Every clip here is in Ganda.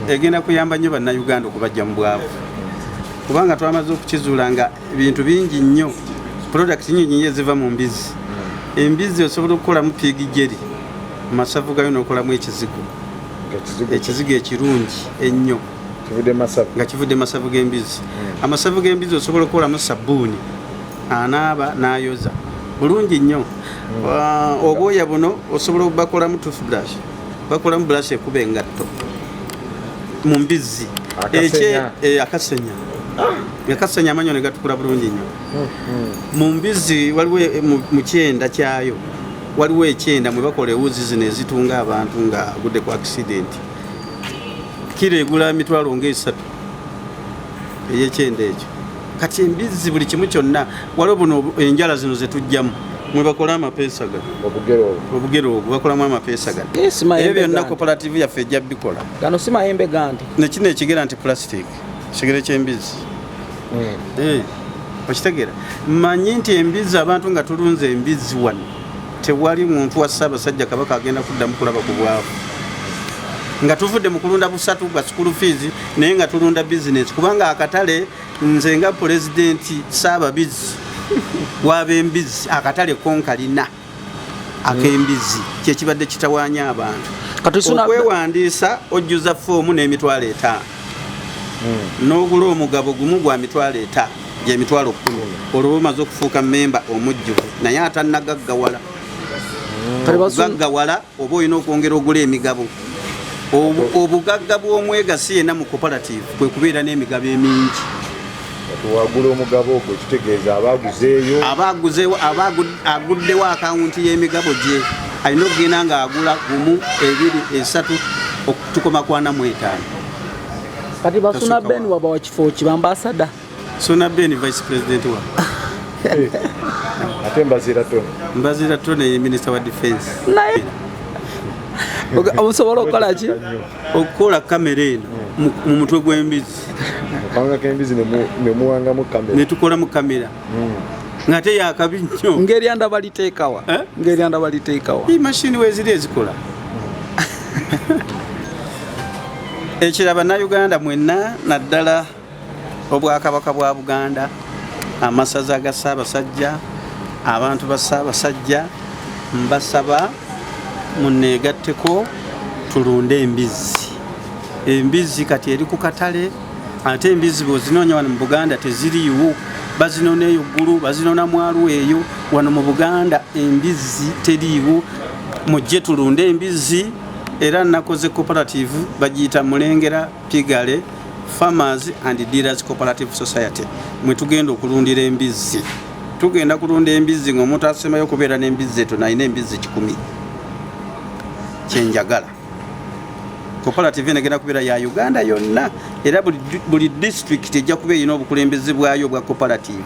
egenda kuyamba nnyo bannayuganda okubajja mu bwavu kubanga twamaze okukizuula nga ebintu bingi nnyo product nyinyi eziva mu mbizi embizzi osobola okukolamu piigi jeri mu masavu gayo n'okolamu ekizigo ekizigo ekirungi ennyo nga kivudde masavu g'embizzi hmm. amasavu g'embizzi osobola okukolamu sabbuuni anaaba n'ayoza bulungi nnyo hmm. obwoya buno osobola okubakolamu toothbrush bakolamu bulashi ekuba engatto mu mbizzi akasenya akasenya amanyo ne gatukula bulungi nnyo mm-hmm. mu mbizzi waliwo e, mu kyenda kyayo waliwo ekyenda mwe bakola ewuzi zino ezitunga abantu nga agudde ku akisidenti kiro egula emitwalo ngaesatu eyekyenda ekyo kati embizzi buli kimu kyonna waliwo buno enjala zino zetujjamu mwebakola amapeesa gano obugere obwo bakolamu amapeesa gano ebyo byonna koperative yaffe ejja bikola gano si mayembe gandi nekino ekigera nti plastic kigere kyembizi hmm. eh, okitegera manyi nti embizi abantu nga tulunze embizi wano Tewali muntu wa Ssaabasajja Kabaka agenda kuddamu kulaba ku bwavu nga tuvudde mu kulunda busatu bwa sukulu fiizi naye nga tulunda bizinensi kubanga akatale nze nga pulezidenti Ssaababizi wab'embizzi akatale konkalina ak'embizzi kyekibadde kitawaanya abantu okwewandiisa ojjuza foomu n'emitwalo etaano hmm. n'ogula omugabo gumu gwa mitwalo etaano gyemitwalo kkumi olwo lumaze okufuuka memba omujjuvu naye atannagaggawala gaggawala oba olina okwongera ogula emigabo obugagga bw'omwegasi yena mu cooperative kwe kubeera n'emigabo emingi wagula omugabo ogwo kitegeeza abaaguzeeyo abaaguzeewo aguddewo akawunti y'emigabo gye alina okugenda ng'agula gumu ebiri esatu okutukoma kwana mu etaano Kati basuna Ben waba wa kifo ki ambassador. Suna Ben vice president wa. Eh. Ate mbazira tone. Mbazira tone ye minister wa defense. Naye. Obusobola okola ki? Okola kamera eno hmm. mu mutwe gw'embizi. Kanga k'embizi ne muwangamu kamera. Ne tukolamu kamera. ngate yakabi nnyo ngeri anda baliteekawa eh? ngeri anda baliteekawa i mashini weziri ezikola ekira bannayuganda mwenna naddala obwakabaka bwa buganda amasaza ga ssaabasajja abantu ba ssaabasajja mbasaba muneegatteko tulunde embizzi embizzi kati eri ku katale ate embizzi bwozinoonya wano mu buganda teziriiwo bazinona eyo ggulu bazinona mwalwo eyo wano mu buganda embizzi teriiwo mujje tulunde embizzi era nakoze cooperative bagiyita mulengera pigale farmers and dealers cooperative society mwe tugenda okulundira embizzi tugenda kulunda embizzi ngaomuntu asemayo okubeera n'embizzi eto nalina embizzi kikumi kyenjagala koperative eno egenda kubeera ya uganda yonna era buli disitulikiti ejja kuba erina obukulembeze bwayo obwa koperative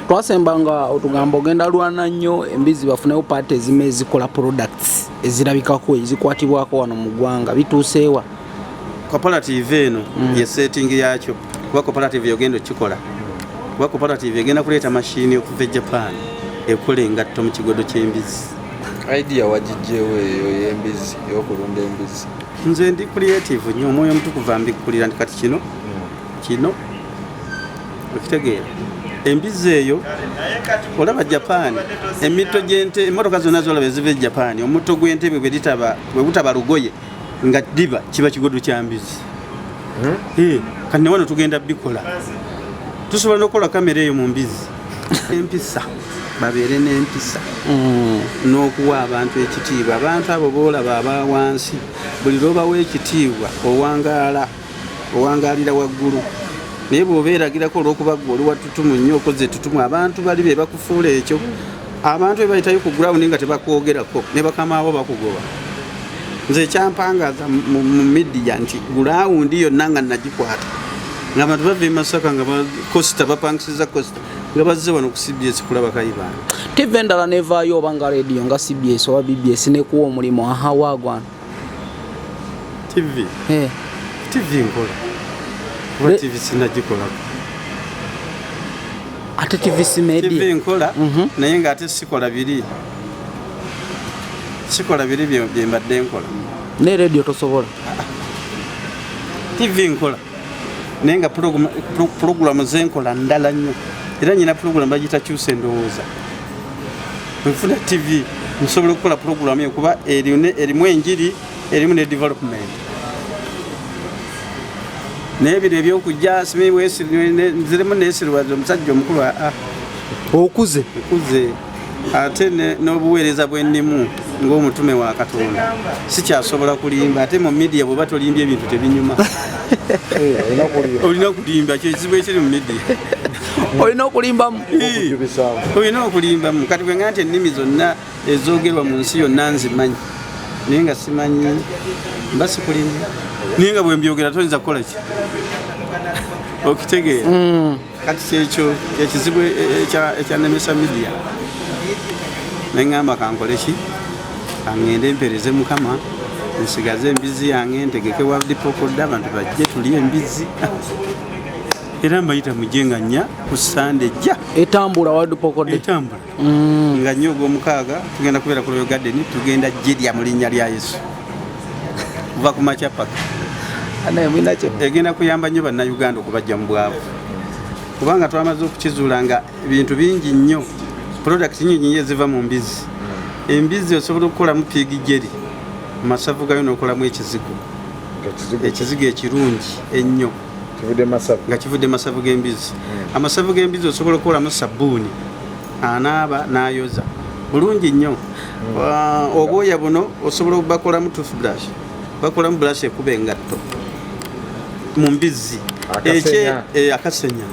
twasemba nga otugamba ogenda lwana nnyo embizi bafunewo paati ezimu ezikola products ezirabikako ezikwatibwako wano mu ggwanga bituuseewa koperative eno mm. ye setting yakyo kuba koperative yogenda okikola kuba koperative egenda kuleeta mashini okuva e japan ekola engatto mu kigodo ky'embizi idea wagijjeewo eyo ey'embizzi eyokulunda embizzi nze ndi creative nyo omwoyo omutukuvu ambikkulira nti kati kino kino okitegeera embizzi eyo olaba japan emitto gyente emotoka zonna zolaba eziva e japan omutto gw'entebe bwebutaba lugoye nga diba kiba kigodo kya mbizi hmm? eh, kati newano tugenda bikola tusobola nokukola kamera eyo mu mbizi empisa babeere n'empisa hmm. n'okuwa abantu ekitiibwa abantu abo boolaba aba wansi buli lwobawa ekitiibwa owangaala owangaalira waggulu naye bw'oba eragirako olw'okuba gwe oli wattutumu nnyo okoze ettutumu abantu bali be bakufuula ekyo abantu be bayitayo ku gurawundi nga tebakwogerako ne bakamaabo bakugoba nze ekyampangaza mu midiya nti gurawundi yonna nga nagikwata nga abantu bava emasaka nga bakosta bapangisiza kosta nga bazze wano ku cbs kulaba kayibanda tive endala nevaayo oba nga rediyo nga cbs oba bbs nekuwa omulimu aha wagwana TV. Eh. TV nkola. Kuba TV sinagikolako. Ate TV si media. TV nkola mm -hmm. naye nga ate sikola biri. Sikola biri bye mbadde nkola. Ne radio tosobola. TV nkola. naye nga pulogulamu zenkola ndala nnyo era nyina pulogulamu bagita kyusa endowooza nfuna tv nsobola okukola pulogulamu eyo kuba erimu enjiri erimu ne development naye bino ebyokujja zirimu nesirwaza omusajja omukulu aa ah, ah. okuze okuze ate n'obuweereza bwennimu ng'omutume wa katonda sikyasobola kulimba ate mu midiya bweba tolimbye ebintu tebinyuma eh, olina kulimba kyekizibu ekiri mu midiya olina okulimbamu olina okulimbamu kati bwenga nti ennimi zonna ezogerwa mu nsi yonna nzimanyi naye nga simanyi mba sikulimba naye nga bwembyogera toyinza kukola ki okitegeera mm. kati kyekyo kyekizibu e, e, ekyanemesa midia neŋamba kankoleki kaŋŋende mpereze mukama nsigaze embizzi yange ntegeke wadipokodde abantu bajje tuli embizzi era mbayita mujje nga nnya ku sande jja etambula wadipokodde etambula mm. nga nnyo ogwomukaaga tugenda kubeera ku royal garden tugenda jirya mu linnya lya yesu kuva ku makya paka egenda kuyamba nnyo bannayuganda okubajja mu bwavu kubanga twamaze okukizuula nga ebintu bingi nnyo product nyingi nyo eziva mu mbizzi mm. embizzi osobola okukolamu piigi jeri mu masavu gayo n'okolamu ekizigo ekizigo ekirungi ennyo nga kivudde masavu g'embizzi hmm. amasavu g'embizzi osobola okukolamu sabbuuni anaaba n'ayoza bulungi nnyo hmm. uh, obwoya buno osobola obakolamu toothbrush bakolamu brush ekuba engatto mu mbizzi akasenya akasenya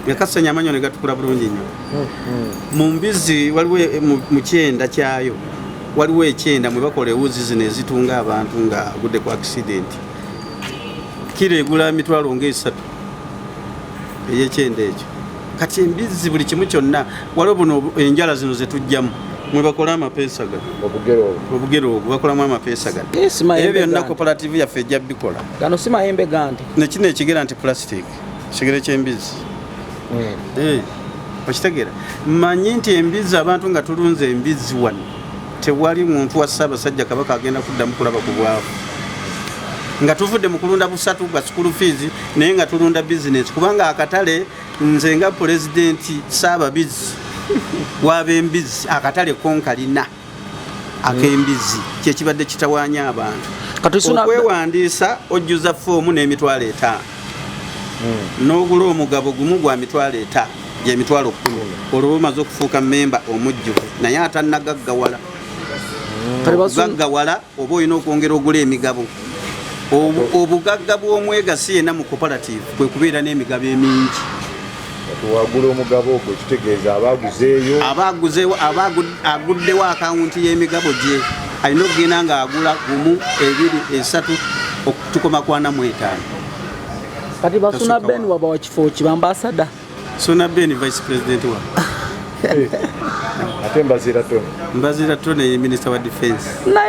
eh, ah. amanyo ne gatukula bulungi nnyo hmm, mu mbizzi waliwo eh, mu kyenda kyayo waliwo ekyenda mwe bakola ewuzi zino ezitunga abantu nga agudde ku akisidenti kiro egula emitwalo ngaesatu eyekyenda ekyo kati embizzi buli kimu kyonna waliwo buno enjala zino zetujjamu mwebakola amapeesa gano obugere obwo bakolamu amapeesa gano eh, ebyo byonna koperative yaffe ejja bikola gano si mayembe gandi nekino ekigera nti plastic kigere kyembizi hmm. eh, okitegera manyi nti embizi abantu nga tulunze embizi wano Tewali muntu wa Ssaabasajja Kabaka agenda kuddamu kulaba ku bwavu nga tuvudde mu kulunda busatu bwa sukulu fiizi naye nga tulunda bizinensi kubanga akatale nze nga pulezidenti Ssaababizi wab'embizzi akatale konkalina ak'embizzi kyekibadde kitawaanya abantu okwewandiisa ojjuza foomu n'emitwalo etaano hmm. n'ogula omugabo gumu gwa mitwalo etaano gyemitwalo kkumi olwo lumaze okufuuka memba omujjuvu naye atannagaggawala gaggawala oba olina okwongera ogula emigabo obugagga bw'omwegasi yena mu cooperative kwe kubeera n'emigabo emingi wagula omugabo ogwo kitegeeza abaaguzeeyo abaaguzeewo aguddewo akawunti y'emigabo gye alina okugenda ng'agula gumu ebiri esatu okutukoma kwana mu etaano Kati basuna Ben waba wa kifo ki ambassador. Suna Ben vice president wa. Ate mbazira tone. Mbazira tone minister wa defense.